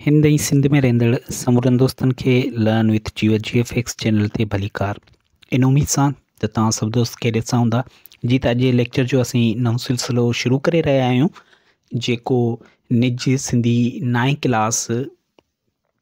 هند ۽ سنڌ ۾ رهندڙ سمورن دوستن کي learn with Jiyo G F X channel تي ڀليڪار ان اميد سان ته توهان سڀ دوست خيريت سان هوندا جي ته اڄ جي ليڪچر جو اسين نئون سلسلو شروع ڪري رهيا آهيون جيڪو نج سنڌي نائين ڪلاس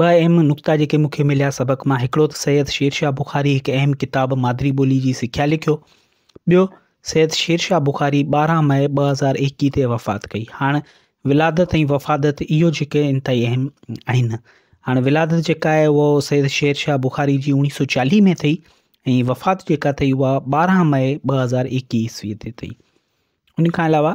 ٻه اهم نقطا جيڪي مون کي مليا سبق مان، هڪڙو ته سيد شير شاهه بخاري هڪ اهم ڪتاب مادري ٻولي جي سکيا لکيو، ٻيو سيد شير شاهه بخاري ٻارهن مئي ٻه هزار ايڪيهه تي وفات ڪئي. هاڻ ولادت ۽ وفادت اهو جيڪي انتهائي اهم آهن. هاڻ ولادت جيڪا آهي اهو سيد شير شاهه بخاري جي اوڻيهه سو چاليهه ۾ ٿئي ۽ وفات جيڪا ٿئي اها ٻارهن مئي ٻه هزار ايڪيهه عيسوي تي ٿئي. ان کان علاوه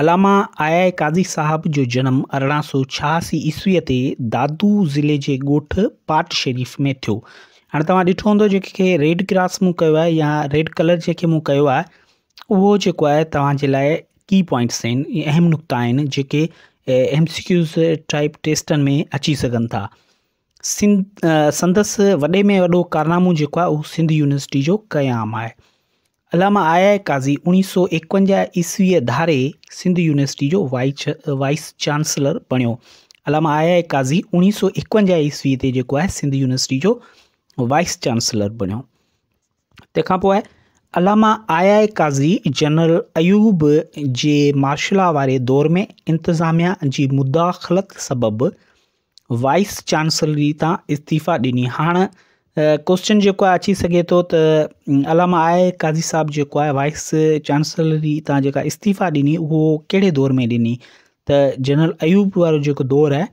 علامه آء آء قاضي صاحب جو جنم ارڙهن سؤ ڇهاسي عيسويء تي دادو ضلعي جي ڳوٺ پاٽ شريف ۾ ٿيو. هاڻي توهان ڏٺو هوندو جيڪي کي ريڊ ڪراس مون ڪيو آهي يا ريڊ ڪلر جيڪي مون ڪيو آهي اهو جيڪو آهي توهان جي لاء ڪي پوائنٽس آهن اهم نقطا آهن جيڪي ايم سي ڪيوز ٽائپ ٽيسٽن ۾ اچي سگهن ٿا سنڌ سندس وڏي ۾ وڏو ڪارنامو جيڪو آهي اهو سنڌ يونيورسٽي جو قيام آهي علامه آء آء قاضي اوڻيهه سؤ ايڪونجاهه عيسويء ڌاري سنڌ يونيورسٽيء جو وائيس چانسلر بڻيو. علامه آء آء قاضي اوڻيهه سؤ ايڪونجاهه عيسويء تي جيڪو آهي سنڌ يونيورسٽيء جو وائيس چانسلر بڻيو. تنهن کان پوء علامه I I Kazi general Ayub جي مارشلا واري دور ۾ انتظاميا جي مداخلت سبب وائيس چانسلري تان استعيفا ڏني هاڻ ڪوشچن جيڪو آهي اچي سگهي ٿو ته علامه آء قاضي صاحب جيڪو آهي وائيس چانسلري تان جيڪا استعيفا ڏني اهو ڪهڙي دور ۾ ڏني ته جنرل ايوب وارو جيڪو دور آهي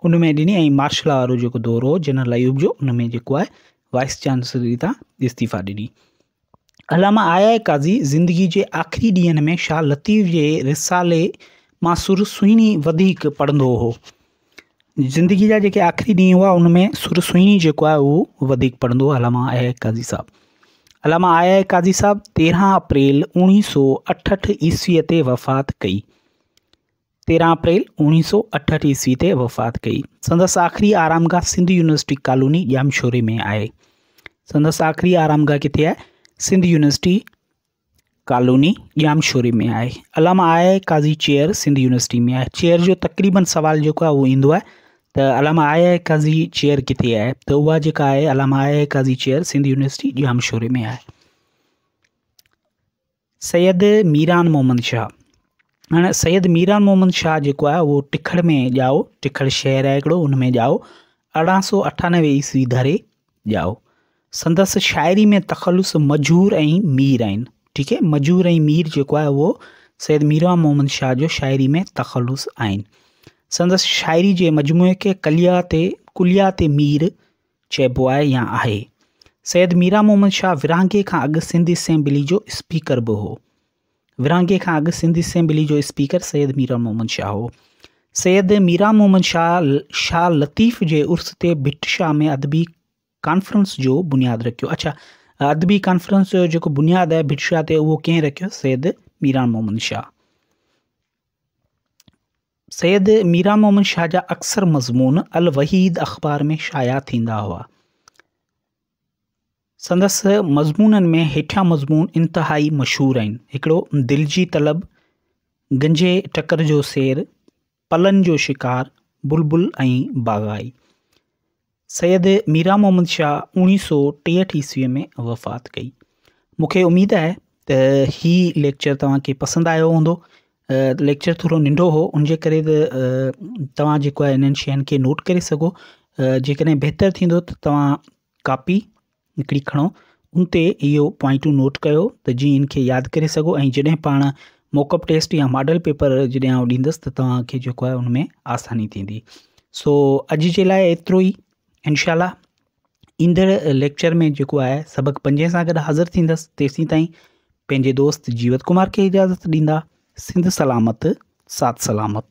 ان ۾ ڏني ۽ مارشلا وارو جيڪو دور هو جنرل ايوب جو ان ۾ جيڪو آهي وائيس چانسلري تان استعيفا ڏني علامه آء آء قاضي زندگي جي آخري ڏينهن ۾ شاهه لطيف جي رسالي ماسور سهڻي وڌيڪ پڙهندو هو زندگي جا جيڪي آخري ڏينهن هئا ان ۾ سر سهڻي جيڪو آهي اهو وڌيڪ پڙهندو هو علامه آء آء قاضي صاحب علامه آء آء قاضي صاحب تيرهن اپريل اوڻيهه سو اٺهٺ عيسويء تي وفات ڪئي تيرهن اپريل اوڻيهه سؤ اٺهٺ عيسوي تي وفات ڪئي. سندس آخري آرامگاهه سنڌ يونيورسٽي ڪالوني ڄامشوري ۾ آهي. سندس آخري آرامگاهه ڪٿي آهي؟ سنڌ يونيورسٽي ڪالوني ڄامشوري ۾ آهي. علامه I Kazi chair Sindh university ۾ آهي. چيئر جو تقريبن سوال جيڪو آهي اهو ايندو آهي ته علامه آء قاضي چيئر ڪٿي آهي ته اها جيڪا آهي علامه I Kazi chair Sindh university ڄامشوري ۾ آهي. سيد ميران محمد شاهه، هاڻي سيد ميران محمد شاهه جيڪو آهي اهو ٽکڙ ۾ ڄائو، ٽکڙ شهر آهي هڪڙو ان ۾ ڄائو، ارڙهن سؤ اٺانوي عيسوي ڌري ڄائو. سندس شاعري ۾ تخلص مجهور ۽ مير آهن، ٺيڪ آهي، مجهور ۽ مير جيڪو آهي اهو سيد ميران محمد شاهه جو شاعري ۾ تخلص آهن. سندس شاعري جي مجموعي کي ڪليات ڪليات مير چئبو آهي يا آهي. سيد ميران محمد شاهه ورهاڱي کان اڳ سنڌ اسيمبلي جو اسپيڪر به هو. ورهاڱي کان اڳ سنڌ اسيمبلي جو اسپيڪر سيد ميران محمد شاهه هو. سيد ميران محمد شاهه شاهه لطيف جي عرس تي ڀٽ شاهه ۾ ادبي ڪانفرنس جو بنياد رکيو. اڇا ادبي ڪانفرنس جو جيڪو بنياد آهي ڀٽ شاهه تي اهو ڪنهن رکيو؟ سيد ميران محمد شاهه. سيد ميران محمد شاهه جا اڪثر مضمون الوحيد اخبار ۾ شايع ٿيندا هئا. سندس مضمونن ۾ هيٺيان مضمون انتهائي مشهور آهن. هڪڙو دل جي طلب، گنجي ٽڪر جو سير، پلن جو شڪار، بلبل ۽ باغائي. سيد ميران محمد شاهه اوڻيهه سو ٽيهٺ عيسويء ۾ وفات ڪئي. مون کي اميد آهي ته هي ليڪچر توهان کي پسند آيو هوندو. ليڪچر ٿورو ننڍو هو ان جي ڪري ته توهان جيڪو آهي انهن شين کي نوٽ ڪري سگهو. جيڪڏهن بهتر ٿيندو ته توهان ڪاپي نڪري کڻو، ان تي اهي پوائنٽون نوٽ ڪيو ته جيئن ان کي ياد ڪري سگهو ۽ جڏهن پاڻ موڪ اپ ٽيسٽ يا ماڊل پيپر جڏهن آئون ڏيندس ته توهان کي جيڪو آهي ان ۾ آساني ٿيندي سو اڄ جي لاء ايترو ئي انشاء الله ايندڙ ليڪچر ۾ جيڪو آهي سبق پنجين سان گڏ حاضر ٿيندس تيسين تائين پنهنجي دوست جيوت ڪمار کي اجازت ڏيندا سنڌ سلامت سات سلامت